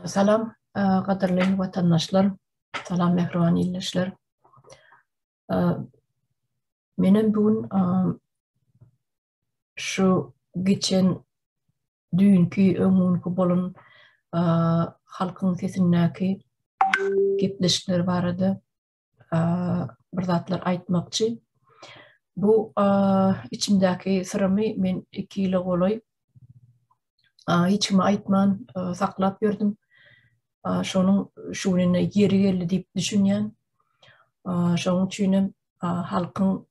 Salam, gadyrly watandaşlar. Salam, mähriban ildeşler. Menem bu gün şu geçen düýnki öňki bolan halkyň sesindäki gepleşikler barada bir zatlar aýtmakçy. Bu içimdäki syrymy men iki ýyla golaý hiç kime aýtman saklap ýördüm. Şonuň şu gününe ýeri geldi diýip düşünýän. Şonuň üçin hem halkyň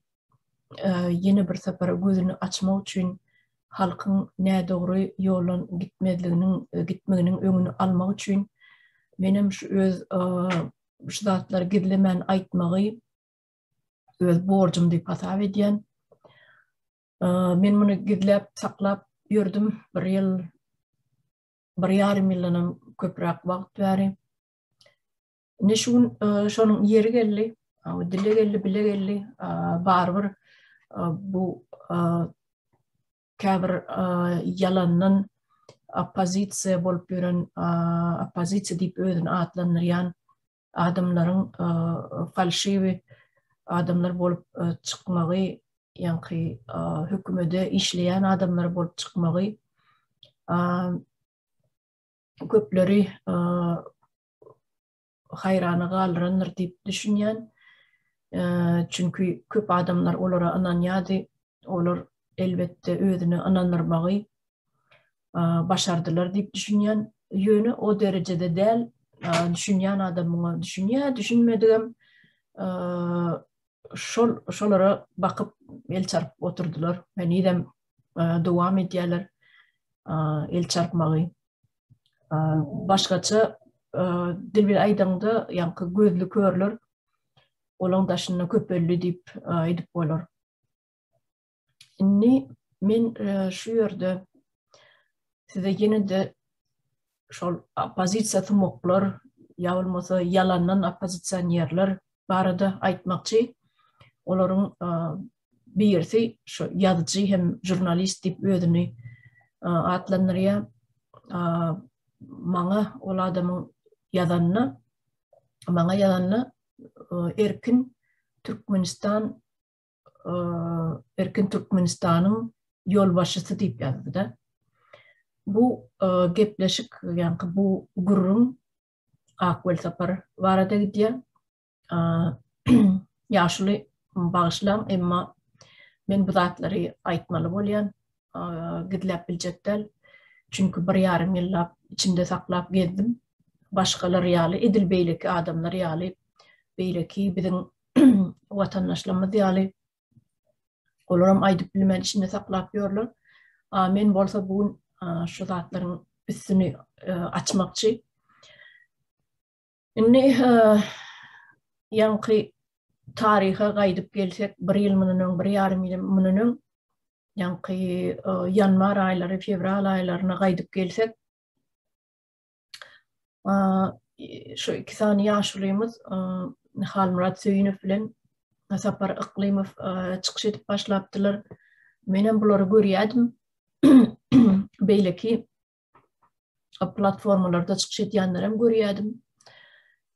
ýene bir sapar gözüni açmak üçin halkyň nädogry ýoldan gitmezliginiň gitmeginiň öňüni almak üçin menem şu öz şu zatlary gizlemän aýtmagy öz borjum diýip hasap edýän. Men muny gizläp, saklap ýördüm bir ýyl, bir ýarym ýyldanam köpräk wagt bäri. Ne şu gün şonuň ýeri geldi, dile geldi, bile geldi, barybir bu käbir ýalandan oppozisiýa bolup ýören oppozisiýa diýip özüni atlandyrýan adamlaryň falşiwi adamlar bolup çykmagy ýaňky hökümede işleýän adamlar bolup çykmagy köpleri haýrana galdyrandyr diýip düşünýän. Çünki köp adamlar olara ynanýardy. Olar elbetde özüne ynandyrmagy başardylar diýip düşünýän. Ýöne o derejede däl. Düşünýän adam muňa düşünýär, düşünmedigem şol şolara bakyp el çarp oturdylar. Henizem dowam edýärler el çarpmagy. başgaça dil bilen aýdaňda ýaňky gözli körler olaň daşynda köpeldi diýip aýdyp bolar. Indi men şu ýerde size ýene-de şol oppozisiýa tumuklar ýa bolmasa ýalandan oppozisionerler barada aýtmakçy. Olaryň birisi şu ýazyjy hem žurnalist diýip özüni atlandyrýar. Maňa ol adamyň ýazanyna maňa ýazanyna erkin Türkmenistan erkin Türkmenistanyň ýolbaşçysy diýip ýazdy-da. Bu gepleşik, ýagny bu gürrüň Akwel Sapar barada gidýär. Ýaşuly bagyşlaň emma men bu zatlary aýtmaly bolýan, gizläp biljek däl. Çünki bir ýarym ýyllap içimde saklap gezdim. Başgalar ýaly edil beýleki adamlar ýaly beýleki biziň watandaşlarymyz ýaly olaram aýdyp bilmän içinde saklap ýörler. A men bolsa bu gün şu zatlaryň üstüni açmakçy. Indi ýaňky taryha gaýdyp gelsek, bir ýyl mundan öň, bir ýarym ýyl mundan öň, ýaňky ýanwar aýlary, fewral aýlaryna gaýdyp gelsek, şu iki sany ýaşulymyz Halmyrat Söýünow bilen Sapar Yklymow çykyş edip başlapdylar. Menem bulary görýärdim. Beýleki platformalarda çykyş edýänlerem görýädim.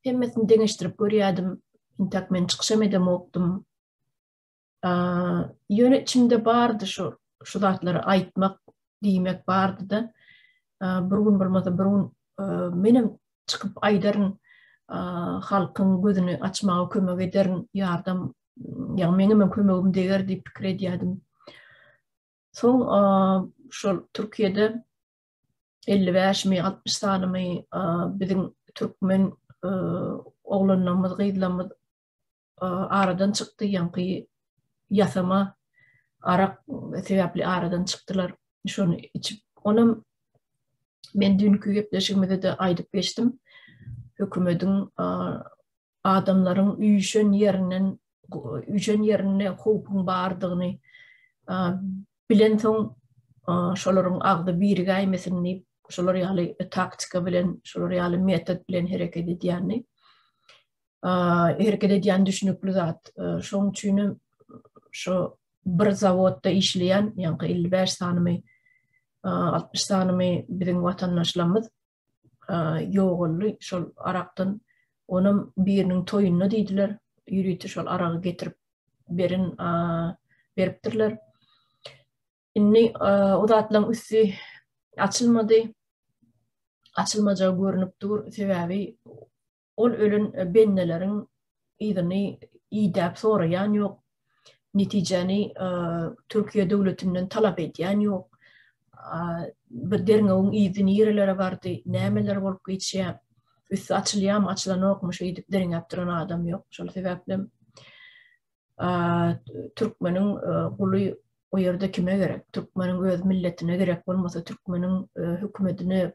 Hemmesini deňeşdirip görýädim. Intak men çykyşam edemokdym. Ýöne içimde bardy şu şu zatlary aýtmak, diýmek bardy-da. Bir gün bolmasa bir gün menem çykyp aýdaryn, halkyň gözüni açmaga kömek ederin, ýardam, ýa meňem kömegim deger diýip pikir edýädim. Soň şol Türkiýede 55 mi 60 sanymy biziň türkmen oglanlarymyz gyzlarymyz aradan çykdy ýaňky ýasama arak sebäpli aradan çykdylar şony içip onam men dünkü gepleşigimizde de aýdyp geçdim hökümetiň adamlaryň üýşen ýerinden üýşen ýerinde howpuň bardygyny bilensoň şolaryň agzy birigäýmesin diýip şolar ýaly taktika bilen şolar ýaly metod bilen hereket edýändi hereket edýän düşünikli zat şoň üçin hem şo bir zawodda işleýän ýaňky elli bäş sanymy altmyş sanymy biziň watandaşlarymyz ýogaldy şol arakdan onam biriniň toýunda diýdiler ýörite şol aragy getirip beren beripdirler indi o zatlaryň üsti açylmady açylmajagy görnüp dur sebäbi ol ölen bendeleriň yzyny idäp soraýan ýok, netijäni Türkiýe döwletinden talap edýän ýok. Bir derňewiň yzy nirelere bardy, nämeler bolup geçýär, üsti açylýarmy, açylanokmy şeýdip derňäp duran adam ýok. Şol sebäpli türkmeniň guly o ýerde kime gerek? Türkmeniň öz milletine gerek bolmasa, türkmeniň hökümetine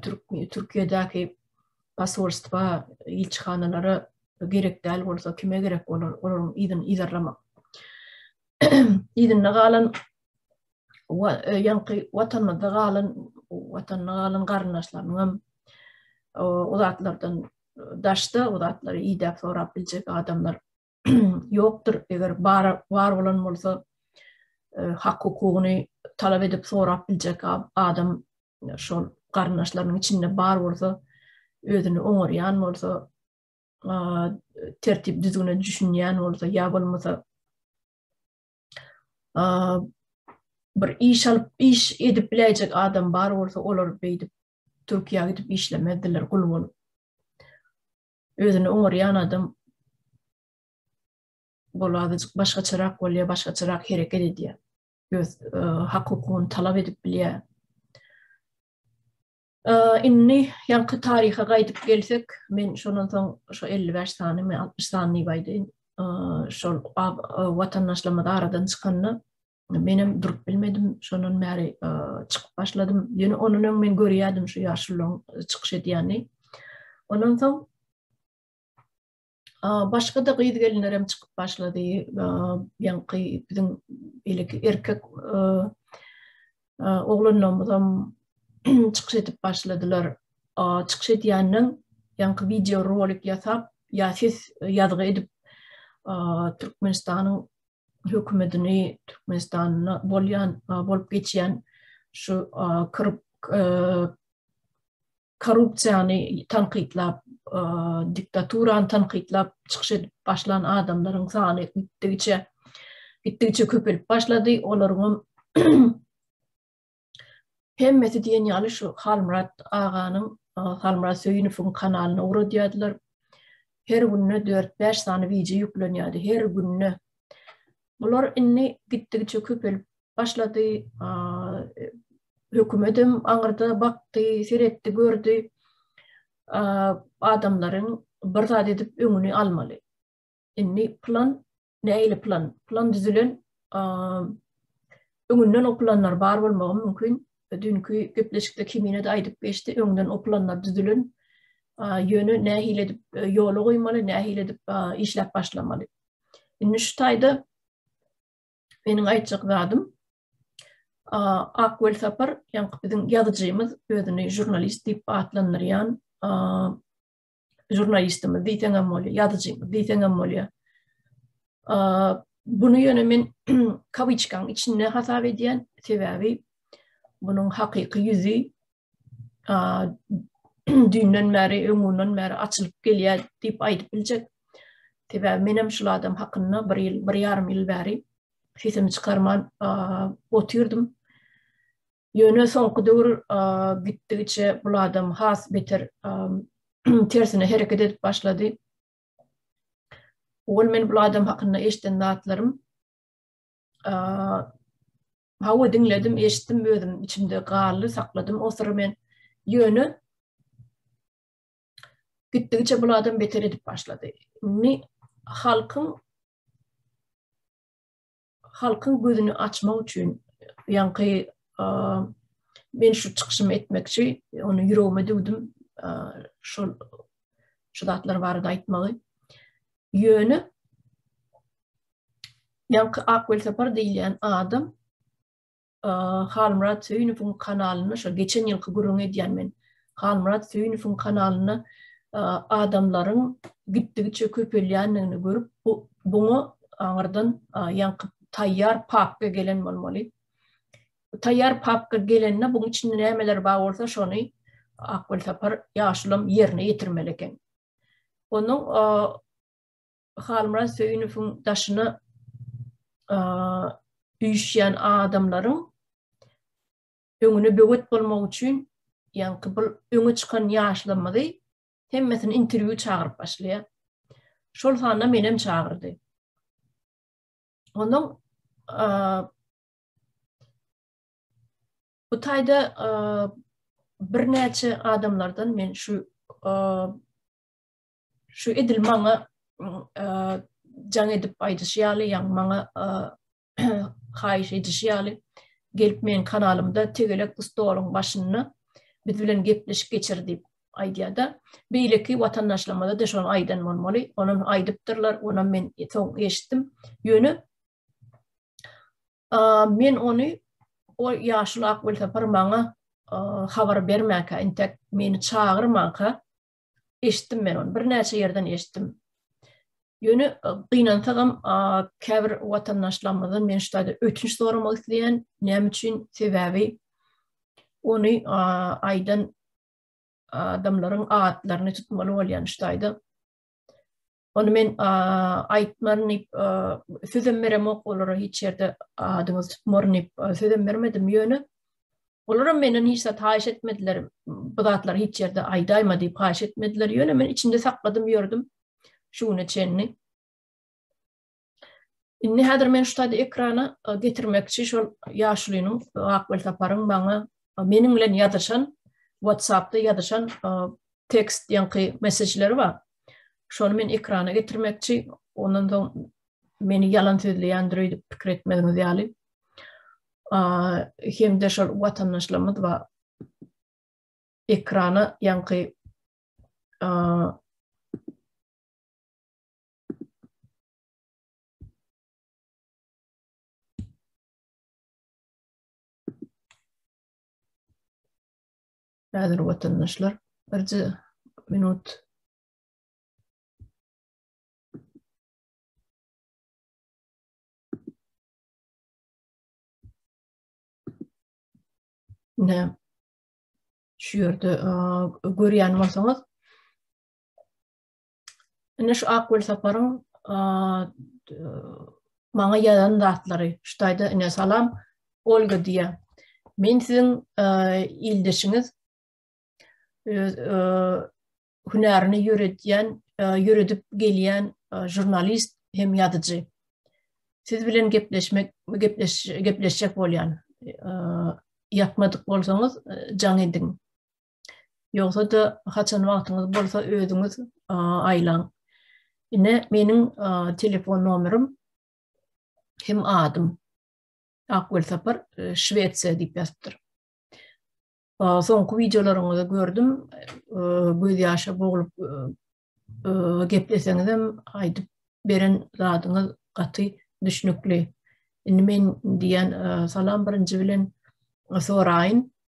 Türk Türkiýedäki posolstwa, ilçihanalara gerek däl bolsa kime gerek bolar olaryň yzyny yzarlamak. Yzynda galan e, ýaňky watanymyzda galan watanyna galan garyndaşlarynyň hem o zatlardan daşda o zatlary idäp sorap biljek adamlar ýokdur, eger bar bar bolan bolsa e, hak hukugyny talap edip sorap biljek adam e, şol garyndaşlarynyň içinde bar bolsa özüni oňarýan bolsa e, tertip düzgüne düşünýän bolsa ýa bolmasa bir iş alyp iş edip biläýjek adam bar bolsa olar beýdip Türkiýä gidip işlemezdiler gul bolup. özüni oňarýan adam ol azajyk başgaçarak bolýar, başgaçarak hereket edýär. Öz e, hak-hukugyny talap edip bilýär. E, indi ýaňky taryha gaýdyp gelsek, men şondan soň şu 55 sany, men 60 sany diýip aýdaýyn. E, şol watandaşlarymyz aradan çykanda Menem durup bilmedim, şondan bäri çykyp başladym. Ýöne ondan öň men görýärdim şu ýaşullaryň çykyş edýänini. Ondan soň başga da gyz gelinler hem çykyp başlady. Ýaňky biziň ilki erkek oglanlarymyz hem çykyş edip başladylar. Çykyş edýänden ýaňky wideo rolik ýasap, ýa ses ýazgy edip Türkmenistanyň hökümetini Türkmenistanda bolýan bolup geçýän şu korrupsiýany tankytlap diktaturany tankytlap çykyş edip başlan adamlaryň sany gitdigiçe gitdigiçe köpelip başlady olaryň Hemmesi diýen ýaly şu Halmyrat aganyň, Halmyrat Söýünowyň kanalyna ugradýardylar. Her günde 4-5 sany wideo ýüklenýärdi, her günde. Bular indi gitdigiçe köpelip başlady. Hökümet hem aňyrda bakdy, seretdi, gördi. Adamlaryň bir zat edip öňüni almaly. Indi plan nähili plan plan düzülen öňünden o planlar bar bolmagy mümkin dünkü gepleşikde kimine de aýdyp geçdi öňden o planlar düzülen ýöne nähili edip e, ýola goýmaly nähili edip işläp başlamaly indi şu taýda meniň aýtjak zadym Akwel Sapar, ýaňky biziň ýazyjymyz, özüni jurnalist diýip atlandyrýan žurnalistimiz diýseň hem bolýar, ýazyjymyz diýseň hem bolýar. Bunu ýöne men kawiçkaň içinde hasap edýän, sebäbi bunuň hakyky ýüzi düýnden bäri, öňünden bäri açylyp gelýär diýip aýdyp biljek. Sebäbi men hem şul adam hakynda bir ýyl, bir ýarym ýyl bäri sesimi çykarman otyrdym. Ýöne soňky döwür gitdigiçe bul adam has beter tersine hereket edip başlady. Ol men bul adam hakynda eşden zatlarym. Hawa diňledim, eşitdim özüm içimde galdy, sakladym o syry men. Ýöne gitdigiçe bul adam beter edip başlady. Ni halkyň Halkyň gözüni açmak üçin ýaňky men şu çykyşymy etmekçi, ony ýüregime düwdüm, şol şu zatlar barada aýtmagy. Ýöne ýaňky Ak Welsapar diýilýän adam Halmyrat Söýünowyň kanalynda şol geçen ýylky gürrüňi edýän men. Halmyrat Söýünowyň kanalynda adamlaryň gitdigiçe köpelýändigini görüp, bu buňa aňyrdan ýankyp taýýar papka gelen bolmaly. Taýýar papka gelende buň içinde nämeler bar bolsa şony Akgül Sapar ýaşulam ýerine ýetirmeli eken. Onuň Halmyrat Söýünowyň daşyna üýşýän adamlaryň öňüne böwet bolmak üçin, ýaňky bu öňe çykan ýaşlarymyzy hemmesini interwýu çagyryp başlaýar. Şol sanda menem çagyrdy. Onuň bu taýda birnäçe adamlardan men şu Şu edil maňa jaň edip aýdyşy ýaly, ýaňy maňa haýyş edişi ýaly gelip meň kanalymda tegelek bu stoluň başynda biz bilen gepleşik geçir diýip aýdýar-da. Beýleki watandaşlarymyza da şony aýdan bolmaly. Ony aýdypdyrlar, ony men soň eşitdim. Ýöne men ony o ýaşuly ak welosiped maňa habar bermäkä, intek meni çagyrmanka, eşitdim men ony. Birnäçe ýerden eşitdim. Ýöne e, gynansagam käbir watandaşlarymyzdan men şu taýda ötünç soramak isleýän. Näme üçin? Sebäbi ony aýdan adamlaryň atlaryny tutmaly bolýan şu taýda. Ony men aýtmaryn diýip, sözem beremok olara hiç ýerde adyňyzy tutmaryn diýip, sözem bermedim. Ýöne olaram menden hiç zat haýyş etmediler. Bu zatlary hiç ýerde aýdaýma diýip haýyş etmediler. Ýöne men içinde sakladym ýördüm şu güne çenli. Indi häzir men şu taýda ekrana getirmekçi şol ýaşulynyň Ak Welsaparyň maňa meniň bilen ýazyşan WhatsAppda ýazyşan tekst ýaňky messeçleri bar. Şony men ekrana getirmekçi, ondan soň meni ýalan sözleýändir öýdüp pikir etmegiňiz ýaly. Hem-de şol watandaşlarymyz bar. Ekrana ýaňky Häzir watandaşlar birje minut Ne şu ýerde görýän bolsaňyz Ine şu Akgül Saparyň maňa ýazan zatlary. Şutaýda ine salam Olga diýýär. Men siziň ildeşiňiz öz hünärini ýöredýän, ýöredip gelýän žurnalist hem ýazyjy. Siz bilen gepleşmek, gepleş, gepleşjek bolýan. Ýatmadyk bolsaňyz, jaň ediň. Ýogsa-da, haçan wagtyňyz bolsa özüňiz aýlaň. Ine, meniň telefon nomerim hem adym. Ak welsapar e, Şwesiýa diýip ýazypdyr. Soňky wideolaryňyzy gördüm. E, göz ýaşa boglup e, gepleseňizem aýdyp beren zadyňyz gaty düşnükli. Indi men diýen salam birinji bilen soraýyn.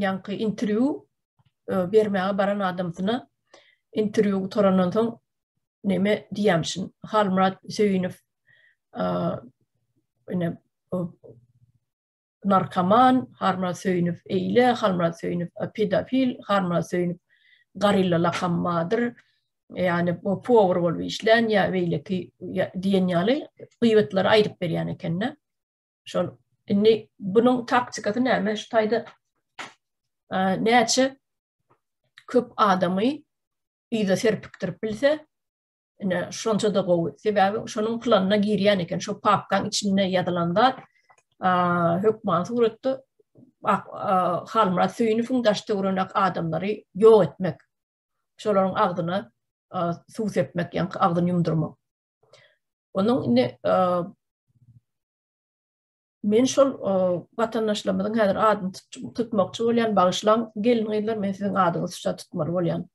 ýaňky interwýu bermäge baran adamsyna interwýu gutarandan soň näme diýämişin? Halmyrat Söýünow ine narkoman, Halmyrat Söýünow eýle, Halmyrat Söýünow pedofil, Halmyrat Söýünow garilla lakammadyr. Ýani bu powar bolup işlän ýa beýleki diýen ýaly gybatlary aýdyp berýän ekende. Şol indi bunuň taktikasy näme? Şu taýda näçe köp adamy ýüze serpikdirip bilse, ine şonça da gowy. Sebäbi şonuň planyna girýän eken, şo papkaň içinde ýazylan zat hökman suratda Halmyrat Söýünowyň daş töwereginek adamlary ýok etmek. Şolaryň agzyna suw sepmek, ýa agzyny ýumdurmak. Onuň indi Men şol watandaşlarymyzyň häzir adyny tutmakçy bolýan bagyşlan gelin gyzlar men siziň adyňyzy şuşa tutmaly bolýan.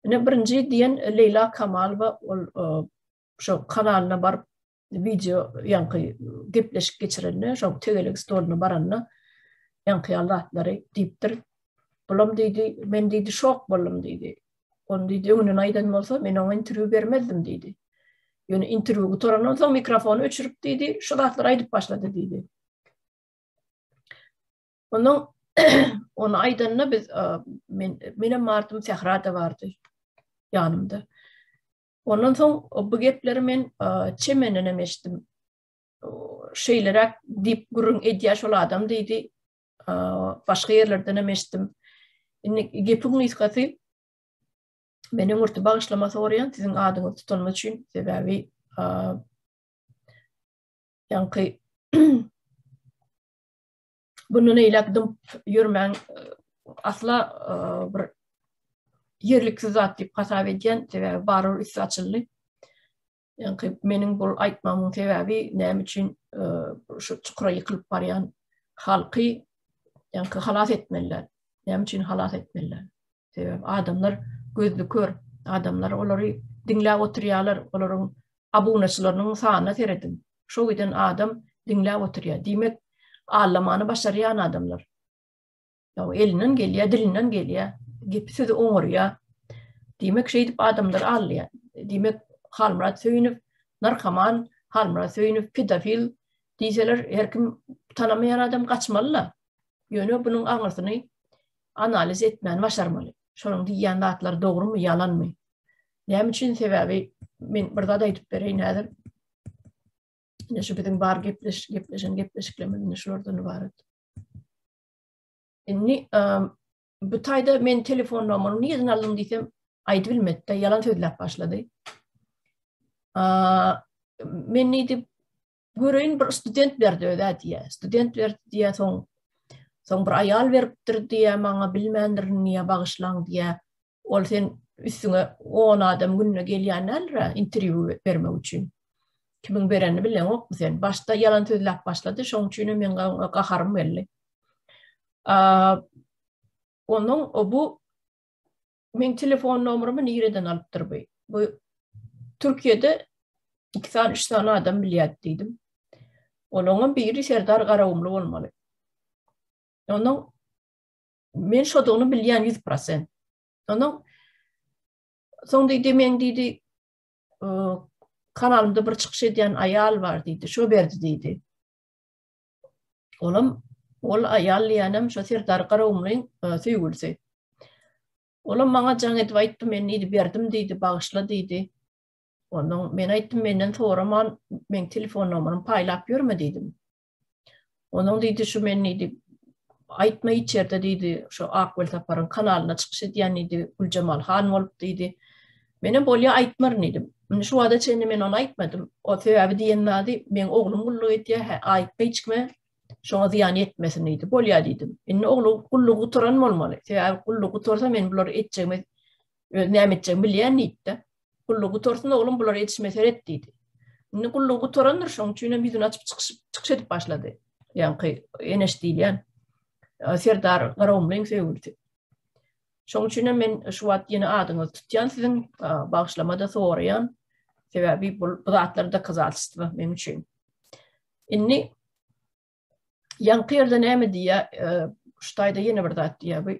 Ine birinji diýen Leýla Kamalowa ol şo kanalyna baryp wideo ýaňky gepleşik geçirende şo tegelek stoluna baranda ýaňky ýallatlary diýipdir. Bulam diýdi, men diýdi şok boldum diýdi. Ony diýdi, öňünden aýdan bolsa, men oňa interwýu bermezdim diýdi. Ýöne interwýu gutarandan soň mikrofony öçürip diýdi, şu zatlary aýdyp başlady diýdi. Onuň onu aýdanyna biz men menem bardym, Sähra da bardy ýanymda. Ondan soň bu gepleri men Çemenden hem eşitdim. Şeýleräk diýip gürrüň edýär şol adam diýdi. başga ýerlerden hem eşitdim. Indi gepiň gysgasy men öňürti bagyşlama soraýan siziň adyňyz tutanma üçin sebäbi ýaňky bundan eýläk dymp ýörmäň asla bir ýerliksiz zat diýip hasap edýän sebäbi barur üsti açyldy. Ýaňky meniň bu aýtmamyň sebäbi näme üçin e, şu çukura ýykylyp barýan halky ýaňky halas etmeliler. Näme üçin halas etmeliler? Sebäbi adamlar gözli kör, adamlar olary diňläp oturýarlar, olaryň abunaçylarynyň sanyna seredin. Şu giden adam diňläp oturýar. Diýmek, allamany başarýan adamlar. Ýa elinden gelýär, dilinden gelýär, gepi sözi oňarýar. Diýmek, şeýdip adamlar aldýar. Diýmek, Halmyrat Söýünow narkoman, Halmyrat Söýünow pedofil diýseler, her kim tanamaýan adam gaçmaly-la. Ýöne bunuň aňyrsyny analiz etmäni başarmaly. Şonuň diýýän zatlary dogrumy, ýalanmy? Näme üçin? Sebäbi men bir zat aýdyp bereýin häzir. Ine şu biziň bar gepleş, gepleşen gepleşiklerimiz indi şulardan ybarat. Indi bu taýda men telefon nomerini nirden aldym diýsem, aýdyp bilmedi-de, ýalan sözläp başlady. Men diýip göreýin bir student berdi özä diýýär. Student berdi diýýär, soň soň bir aýal beripdir diýýär, maňa bilmändirin diýýär, bagyşlaň diýýär. Ol sen üstüňe 10 adam günde gelýän däldir-ä interwýu bermek üçin. Kimiň berenini bileňokmy sen? Başda ýalan sözläp başlady, şoň üçin hem meň gaharym geldi. Onuň o bu men telefon nomerymy nireden alypdyr bu? Bu Türkiýede iki sany, üç sany adam bilýär diýdim. Onuň biri Serdar Garagumly bolmaly. Onuň Men şodugyny bilýän ýüz prosent. Ondan soň diýdi, men diýdi, kanalymda bir çykyş edýän aýal bar diýdi, şo berdi diýdi. Olam ol aýal diýenem şo Serdar Garawumlyň e, söýgülisi. Olam maňa jaň edip aýtdy, men diýdi, berdim diýdi, bagyşla diýdi. Onuň men aýtdym, menden soraman, men telefon nomeryny paýlap ýörme diýdim. Onuň diýdi şu men diýdi aýtma içerde diýdi şu Akwel Saparyň kanalyna çykyş edýän diýdi Güljemal han bolup diýdi. Menem bolýa aýtmaryn diýdim. Indi şu wada çenli men ony aýtmadym. O sebäbi diýen zady men oglum gulluk edýär, hä aýtma hiç kime şoňa zyýan ýetmesin diýdi. Bolýa diýdim. Indi oglu gulluk gutaran bolmaly. Sebäbi gulluk gutarsa men bulary etjegime Öz näme etjegini bilýän diýdi-de. Gullugy gutarsyn oglum, bular ýetişmä seret diýdi. Indi gullugy gutarandyr, şonuň üçin hem ýüzüni açyp çykyşyp, çykyş edip başlady. Ýaňky Eneş diýilýän Serdar Garagumlyň söýgülisi. Şoň üçin hem men şu wagt ýene adyňyzy tutýan siziň bagşlamada soraýan. Sebäbi bu zatlar dokazatystyba men üçin. Indi ýaňky ýerde näme diýýä? Şu taýda ýene bir zat diýýä. Bu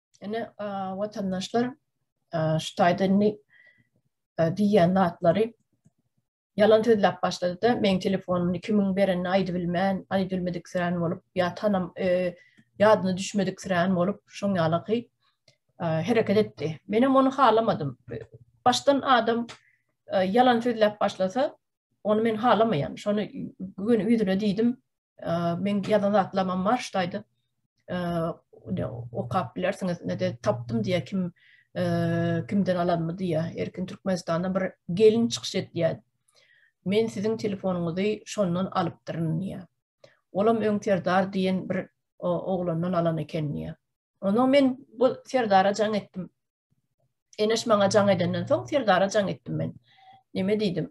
Ene vatandaşlar şu taýda indi diýýän zatlary ýalan sözläp başlady-da, meň telefonumy kimiň berenini aýdyp bilmän, aýdyp bilmedik sirän bolup, ýa tanam ýadyna düşmedik sirän bolup, şoň ýalaky hereket etdi. Menem ony halamadym. Başdan adam ýalan sözläp başlasa, Ony men halamaýan. Şony gün ýüzüne diýdim. Men ýazan zatlamam bar şuýdy. Okap bilersiňiz. Nede tapdym diýe kim kimden alanmy diýe. Erkin Türkmenistanda bir gelin çykyş etýär. Men siziň telefonyňyzy şondan alypdyryn diýe. Olam öň Serdar diýen bir oglandan alan eken diýe. Ondan men bu Serdara jaň etdim. Eneş maňa jaň edenden soň Serdara jaň etdim men. Neme diýdim?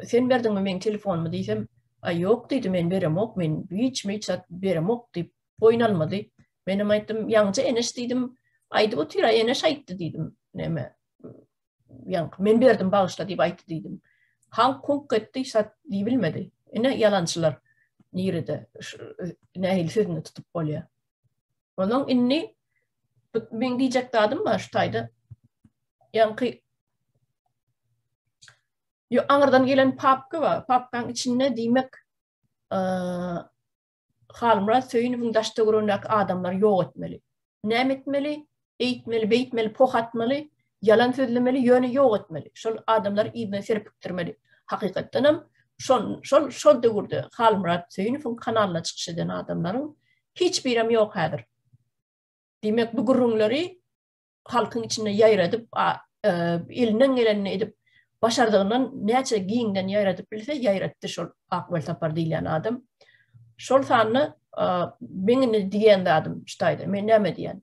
Sen berdiňmi meň telefonymy diýsem, a ýok diýdi men beremok men hiç mi çat beremok diýip boýun almady. Men hem aýtdym, ýaňja Eneş diýdim, aýdyp otyr, a Eneş aýtdy diýdim. Neme? Ýaň men berdim bagyşla diýip aýtdy diýdim. Halk kunk etdi, çat diýip bilmedi. Ine ýalançylar. Nirede? Nähili sözüni tutup bolýar? Onuň indi men diýjek zadym bar şu taýda. Ýaňky Yo aňyrdan gelen papka bar. Papkaň içinde diýmek Halmyrat Söýünowyň daşda görünäki adamlar ýok etmeli. Näme etmeli? Eýtmeli, beýtmeli, poh atmaly, ýalan sözlemeli, ýöne ýok etmeli. Şol adamlary yzyna serpikdirmeli. Hakykatdanam şol şol şol döwürde Halmyrat Söýünowyň kanalyna çykyş eden adamlaryň hiç birem ýok häzir. Diýmek bu gürrüňleri halkyň içinde ýaýradyp, e, elinden gelenini edip başardygyndan näçe giňden ýaýradyp bilse ýaýratdy şol Akwel Sapar diýlen adam. Şol sanly e, meň indi diýen zadym ştaýda, men näme diýen?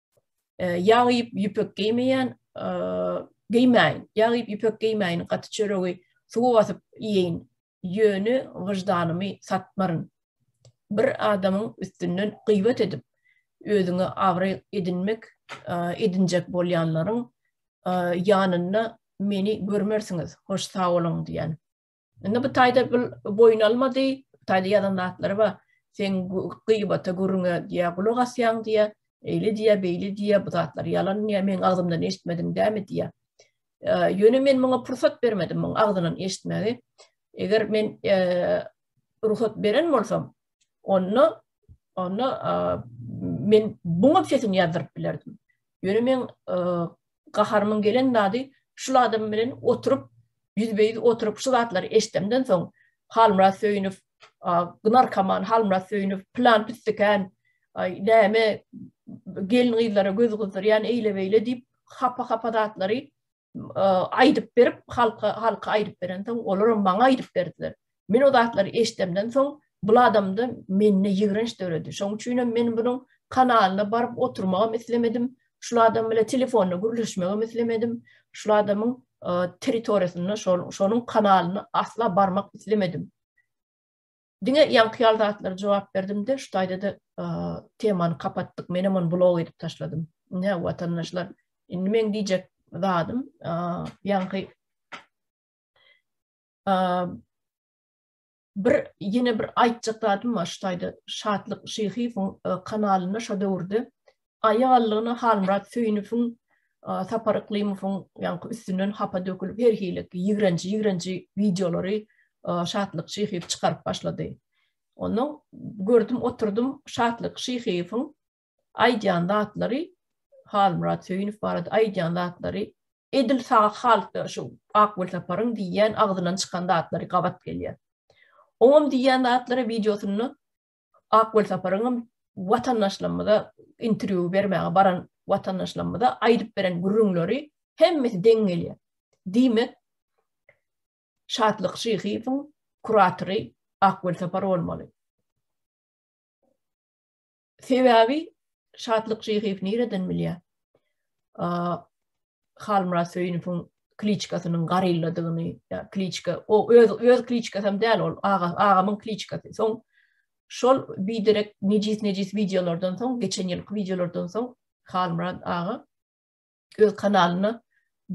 Ýag iýip ýüpek geýmeýän, geýmäýin. Ýag iýip ýüpek geýmäýin, gaty çöregi suwa basyp iýeýin. Ýöne wyždanymy satmaryn. Bir adamyň üstünden gybat edip, özüňe abraý edinmek edinjek bolýanlaryň ýanynda meni görmersiňiz. Hoş sag boluň diýýän. Indi bu taýda bu boýun almady, taýda ýazan zatlary bar. Sen gybata gürüňe diýä gulak asýaň diýä, eýli diýä, beýli diýä, bu zatlar ýalan diýä, meň agzymdan eşitmediň dämi diýä. Ýöne men muňa pursat bermedim, muň agzyndan eşitmegi. Eger men rugsat beren bolsam, Onda onda men buňa sesini ýazdyryp bilerdim. Ýöne men gaharymyň gelen zady şu adam bilen oturyp ýüzbe-ýüz oturyp şu zatlary eşdemden soň Halmyrat Söýünow Gnar Kaman Halmyrat Söýünow plan püstikän näme gelin gyzlara göz gyzdyrýan eýle beýle diýip hapa-hapa zatlary aýdyp berip, halka, halka aýdyp berensoň, olaram maňa aýdyp berdiler. Men o zatlary eşdemden soň, bul adamda mende ýigrenç döredi. Şoň üçin hem men bunuň kanalyna baryp oturmagam islemedim. Şul adam bilen telefonda gürleşmegem islemedim. Şul adamyň territoriýasyna, şonuň kanalyna asla barmak islemedim. Diňe ýaňky ýaly zatlary jogap berdim-de, şu taýda-da temany kapatdyk. Menem ony blok edip taşladym. Ine, watandaşlar, indi meň diýjek zadym, ýaňky bir ýene bir aýtjak zadym bar, şu taýda Şatlyk Şyhyýewiň e, kanalynda şu döwürde Aýallygyna Halmyrat Söýünowyň, Sapar Yklymowyň ýaňky üstünden hapa dökülip her hili ýigrenji-ýigrenji wideolary Şatlyk Şyhyýew çykaryp başlady. Onda gördüm oturdym Şatlyk Şyhyýewiň aýdýan zatlary Halmyrat Söýünow barada aýdýan zatlary edil sag halda şu Akgül Saparyň diýýän agzyndan çykan zatlary gabat gelýär. Oňam diýýän zatlary wideosynda Ak Welsaparyň hem watandaşlarymyza interwýu bermäge baran watandaşlarymyza aýdyp beren gürrüňleri hemmesi deň gelýär. Diýmek, Şatlyk Şyhyýewiň kuratory Ak Welsapar bolmaly. Sebäbi Şatlyk Şyhyýew nireden bilýär? Halmyrat Söýünowyň kliçkasynyň garylladygyny, ýa kliçka, o öz öz kliçkasy hem däl ol, aga agamyň kliçkasy. Soň şol biderek nejis-nejis wideolardan soň, geçen ýylky wideolardan soň Halmyrat aga öz kanalyna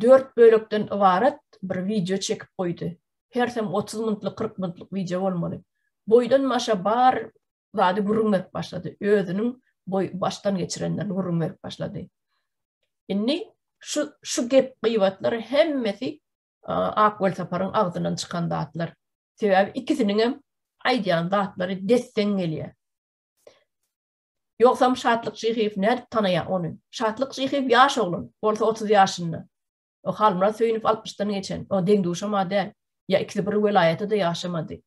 dört bölekden ybarat bir wideo çekip goýdy. Hersem 30 minutlyk, 40 minutlyk wideo bolmaly. Boýdan başa bar zady gürrüň berip başlady. Özüniň boý başdan geçirenlerini gürrüň berip başlady. Indi şu şu gep gyýbatlar hemmesi Ak Welsaparyň agzyndan çykan zatlar. Sebäbi ikisiniň hem aýdýan zatlary desseň gelýär. Ýogsam Şatlyk Şyhyýew nädip tanaýar ony? Şatlyk Şyhyýew ýaş oglan, bolsa 30 ýaşynda. O Halmyrat Söýünow 60-dan geçen, o deň-duşam adäl. Ýa ikisi bir welaýatda-da ýaşamady.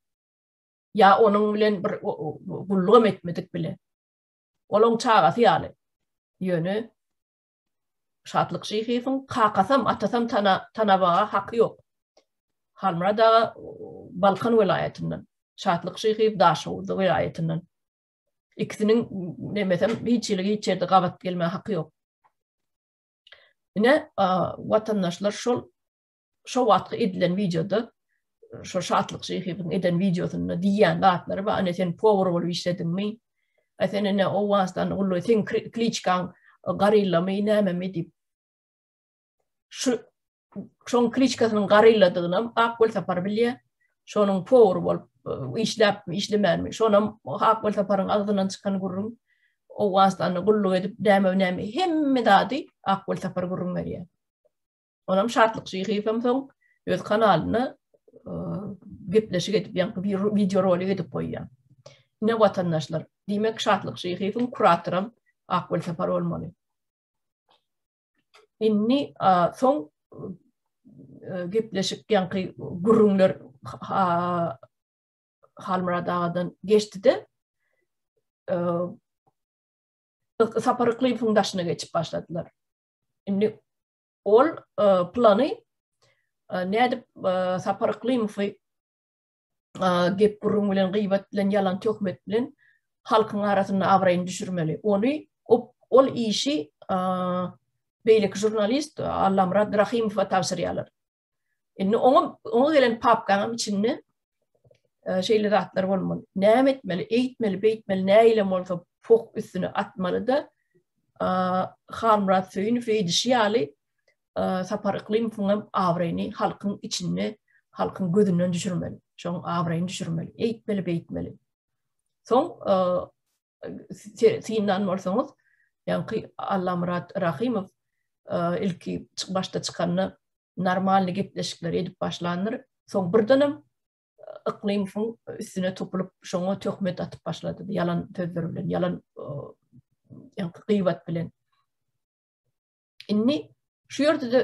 ýa onuň bilen bir gullugam etmedik bile. Ol oň çagasy ýaly. Ýöne Şatlyk şyhysyň kakasam, atasam tana, tanabaga haky ýok. Halmyrat aga Balkan welaýatyndan, Şatlyk şyhyýew Daşoguz welaýatyndan. Ikisiniň nemesem hiç ýyl hiç ýerde gabat gelmä haky ýok. Ine, watandaşlar şol Şo wagtky edilen wideoda şo Şatlyk Şeýhibiň eden wideosynda diýýän zatlary bar. Ene sen powar bolup işlediňmi? Ä sen ene Owganystany gully sen kliçkaň garillamy nämemi diýip. Şu şoň kliçkasynyň garilladygyny hem Ak Welsapar bilýär. Şonuň powar bolup işläpmi, işlemänmi? Şonam Ak Welsaparyň agzyndan çykan gürrüň. Owganystanda gulluk edip näme näme hemme zady Ak Welsapar gürrüň berýär. Onam Şatlyk Şyhyýewem soň öz kanalyna gepleşik edip, ýa-da bir wideo rolik edip goýýar. Ine watandaşlar, diýmek Şatlyk Şyhyýewiň kuratoram Akgül Sapar bolmaly. Indi soň gepleşik ýa-da gürrüňler Halmurad agadan geçdi-de, Sapar Yklyýewiň daşyna geçip başladylar. Indi Ol plany nädip Sapar Yklymowy gep gurrun bilen gyýbat bilen ýalan töhmet bilen halkyň arasynda abraýyny düşürmeli. Ony ol işi beýleki žurnalist Allamyrat Rahimowa tabşyrýarlar. Indi oňa oňa gelen papkaň içinde e, şeýle zatlar bolmaly. Näme etmeli, eýtmeli, beýtmeli, näile bolsa poh üstüne atmaly da e, Halmyrat Söýünow eýdişi ýaly e, Sapar Yklymowyň hem abraýyny halkyň içinde, halkyň gözünden düşürmeli. Şoň abraýyny düşürmeli, eýtmeli, beýtmeli. Soň synlan bolsaňyz, ýaňky Allamyrat Rahymow ilki başda çykanda normalny gepleşikleri edip başlandyr, soň birdenem Yklymowyň üstüne topulyp, şoňa töhmet atyp başlady, ýalan sözler bilen, ýalan ýaňky gyýbat bilen. Indi şu ýerde de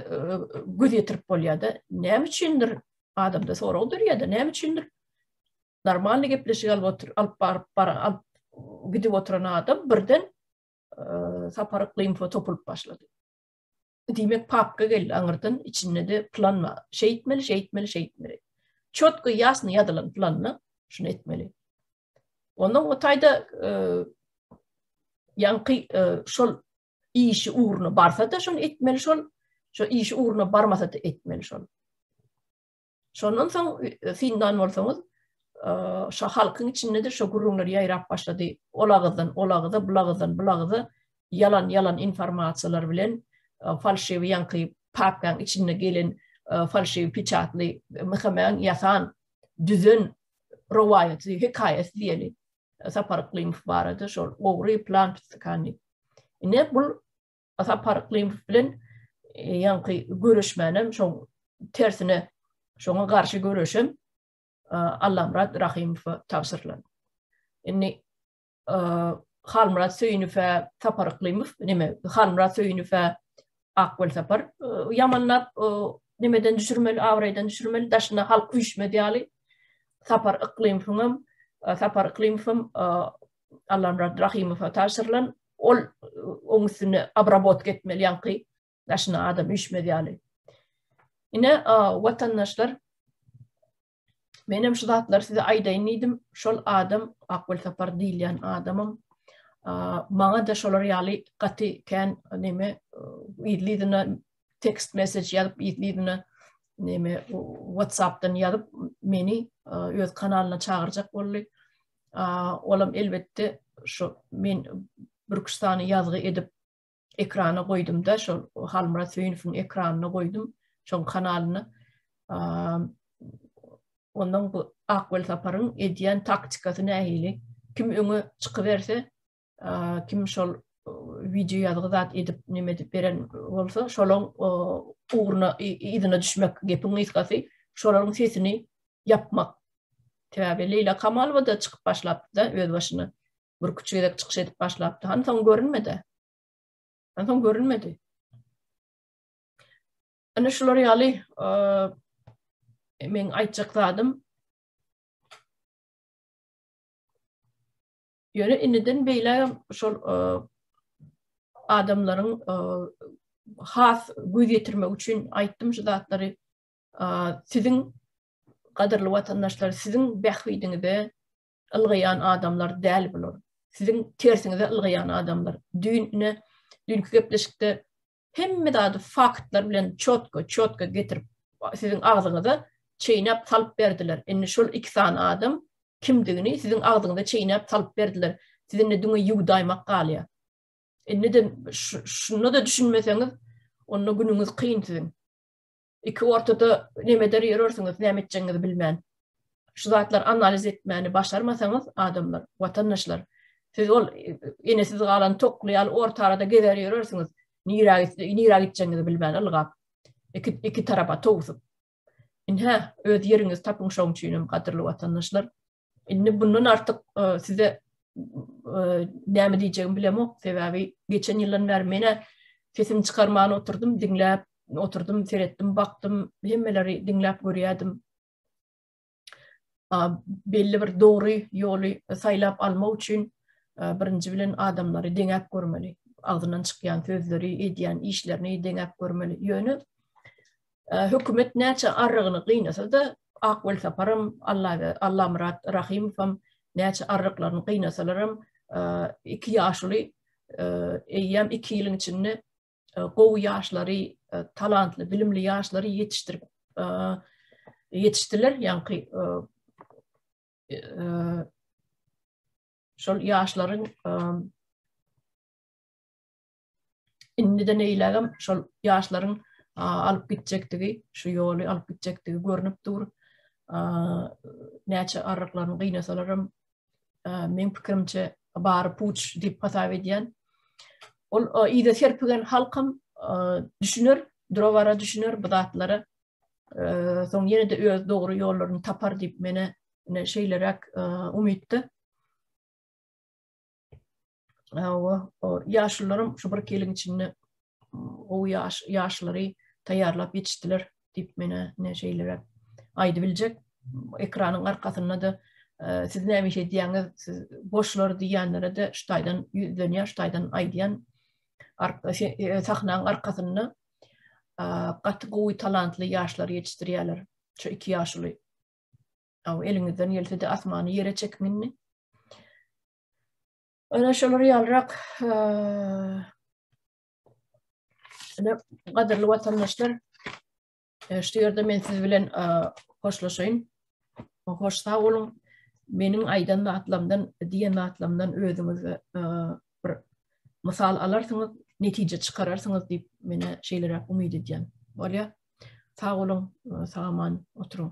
göz ýetirip bolýar-da, näme üçindir adamda sorag dörýär-de, näme üçindir normalny gepleşik alyp otur, alyp baryp bar, alyp gidip oturan adam birden sapar info topulyp başlady. Diýmek, papka geldi aňyrdan, içinde de plan bar. Şeýtmeli, şeýtmeli, şeýtmeli. Çotky ýasny ýazylan planyny şunu etmeli. Onda o taýda ýaňky şol işi ugruna barsa-da şony etmeli şol, şo işi ugruna barmasa-da etmeli şol. Şondan soň e, syndan bolsaňyz, e, şo halkyň içinde-de şo gürrüňler ýaýrap başlady. Ol agyzdan, ol agyza, bu agyzdan, bu agyza ýalan ýalan informasiýalar bilen e, falşiwi ýaňky papkaň içinde gelen falşiwi piçatly Muhammedyň ýasan düzen rowaýaty hekaýasy diýeli. Sapar Yklymow barada şol ogry plan plan diýip. Ine bu Sapar Yklymow bilen e, ýaňky göreşmänem şoň tersine şoňa garşy göreşem e, Allamrat Rahymowa tabşyrylan. Indi e, Halmyrat Söýünowa Sapar Yklymow neme Halmyrat Söýünowa Ak Welsapar ýamanlap nimeden düşürmeli, abraýdan düşürmeli, daşyna halk üýşmez ýaly. Sapar Yklymowyň hem, Sapar Yklymow hem Allamyrat Rahymowa tabşyrylan, ol oň üstüne abrabotka etmeli ýaňky daşyna adam üýşmez ýaly. Ine, watandaşlar, Menem şu zatlary size aýdaýyn diýdim. Şol adam Akgül Sapar diýilýän adamym. Maňa da şolar ýaly gaty kän neme ýylyna tekst mesej ýazyp ýylyna neme WhatsApp-dan ýazyp meni öz kanalyna çagyrjak boldy. Olam elbetde şu men Burkustany ýazgy edip ekrana goýdumda şol Halmyrat Söýünowyň ekranyna goýdum şoň kanalyny ondan bu Akwel Saparyň edýän taktikasy nähili kim öňe çykyberse kim şol wideo ýazgy zat edip näme edip beren bolsa şolaň ugruna yzyna düşmek gepiň gysgasy şolaryň sesini ýapmak Täbi Leýla Kamalowa da çykyp başlapdy da öz başyna. Bürküç gezek çykyş edip başlapdy. Hany soň görünmedi. Hany soň görünmedi. Ana şular ýaly men aýtjak zadym. Ýöne indiden beýle şol adamlaryň has göz ýetirmek üçin aýtdym şu zatlary. Siziň gadyrly watandaşlar, siziň bähbidiňize ylgaýan adamlar däl bular. Siziň tersiňize ylgaýan adamlar. Düýn ine, düýnki gepleşikde hemme zady faktlar bilen çotko, çotko getirip siziň agzyňyza çeýnäp salyp berdiler. Indi şol iki sany adam kimdigini siziň agzyňyza çeýnäp salyp berdiler. Siz indi düňe ýuwdaýmak galýar. Indi de şunda da düşünmeseňiz, onda günüňiz kyn siziň. Iki ortada nemeder ýörersiňiz, näme etjegiňizi bilmän. Şu zatlary analiz etmäni başarmasaňyz, adamlar, watandaşlar, siz ol enesiz galan tokly ýaly orta arada gezer ýörersiňiz, nirä gitdi, nirä gitjegiňizi bilmän ylgap. Iki, iki tarapa towsup. Inhä, öz ýeriňizi tapyň şoň üçin hem gadyrly watandaşlar. Indi bundan artyk e, size e, näme diýjegimi bilemok, sebäbi geçen ýyldan bäri menä sesimi çykarman oturdym, diňläp oturdym, seretdim, bakdym, hemmeleri diňläp görýärdim. Belli bir dogry ýoly saýlap almak üçin e, birinji bilen adamlary deňäp görmeli. Agzyndan çykýan sözleri, edýän işlerini deňäp görmeli. Ýöne Hökümet näçe arrygyny gynasa-da, Ak Welsaparam, Allamyrat Rahymowam näçe arryklaryny gynasalaram, iki ýaşuly eýýäm iki ýylyň içinde gowy ýaşlary, talantly, bilimli ýaşlary ýetişdirip ýetişdiler. Ýaňky şol ýaşlaryň Indide neýlägem şol ýaşlaryň alyp gitjekdigi, şu ýoly alyp gitjekdigi görnüp dur. Näçe arryklaryny gynasalaram, meň pikirimçe bary puç diýip hasap edýän. Ol ýa serpigen halkam düşüner, durabara düşüner bu zatlara. Soň ýene-de öz dogry ýollaryny tapar diýip mene şeýleräk umytda. ýaşlylaram şu bir ýylyň içinde gowy ýaş ýaşlary taýýarlap ýetişdiler diýip menä ne şeýle aýdyp biljek. Ekranyň arkasynda-da e, siz näme iş edýäňiz, siz boşlar diýýänlere de şu taýdan ýüzlenýär, şu taýdan aýdýan şey, e, sahnanyň arkasynda gaty gowy talantly ýaşlar ýetişdirýärler. Şu iki ýaşly. Aw eliňizden gelse-de asmany ýere çekiň indi. Ana şolar ýalyrak Ana gadyrly watandaşlar şu ýerde men siz bilen hoşlaşaýyn. Hoş sag boluň. Meniň aýdan zatlarymdan, diýen zatlarymdan özüňiz bir mysal alarsyňyz, netije çykararsyňyz diýip meni şeýleräk umyt edýän. Bolýa. Sag boluň, sag aman oturyň.